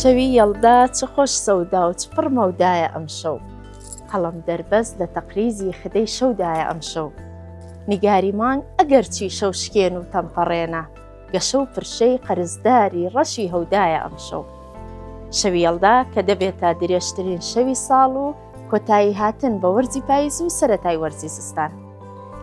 شەوی یەڵدا چ خۆش سەودا و چ پڕ مەودایە ئەمشەو قەڵم دەربەست لە تەقریزی خدەی شەودایە ئەمشەو نیگاری مانگ ئەگەر چی شەو شکێن و تەمپەڕێنە گەشە و پرشەی قەرزداری ڕەشی هەودایە ئەمشەو شەوی یەڵدا کە دەبێت تا درێژترین شەوی ساڵ و کۆتایی هاتن بە وەرزی پاییز و سەتای وەرزی زستان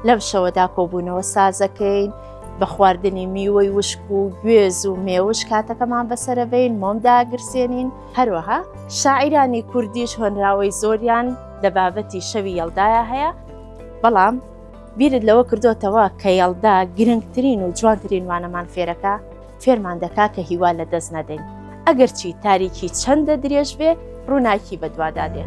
لەم شەوەدا کۆبوونەوە سازەکەین بە خواردنی میوەی وشک و گوێز و مێوش کاتەکەمان بەسەرەبین مۆمداگرسێنین هەروەها شاعیرانی کوردیش هۆنراوەی زۆریان لە بابەتی شەوی یەڵدایە هەیە بەڵام بیرت لەوە کردوتەوە کە یەڵدا گرنگترین و جوانترین وانەمان فێرەکە فێرمان دەکا کە هیوا لە دەست نەدەین ئەگەرچی تاریکی چەندە درێژ بێ ڕووناکی بەدوادا دێ.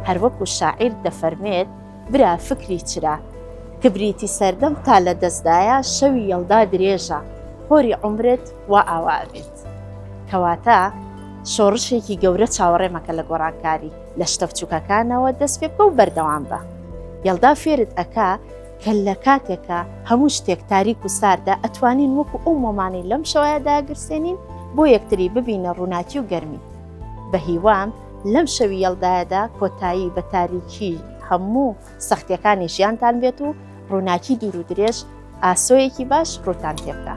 هەروەکو شاعیر دەفەرمێت برا فکری چرا کبریتی سەردەم تا لە دەستدایە شەوی یەڵدا درێژە خۆری عمرت وا ئاوا بێت کەواتە شۆڕشێکی گەورە چاوەڕێمەکە لە گۆڕانکاری لە شتە بچوکەکانەوە دەست پێ بکە و بەردەوام بە یەڵدا فێرت ئەکا کە لە کاتێکە هەموو شتێک تاریک و ساردە ئەتوانین وەکو ئەو مۆمانەی لەم شەوەیە داگرسێنین بۆ یەکتری ببینە ڕووناکی و گەرمی بە هیوام لەم شەوی یەڵدایەدا کۆتایی بە تاریکی هەموو سەختیەکانی ژیانتان بێت و ڕووناکی دوور و درێژ ئاسۆیەکی باش ڕووتان تێبدا.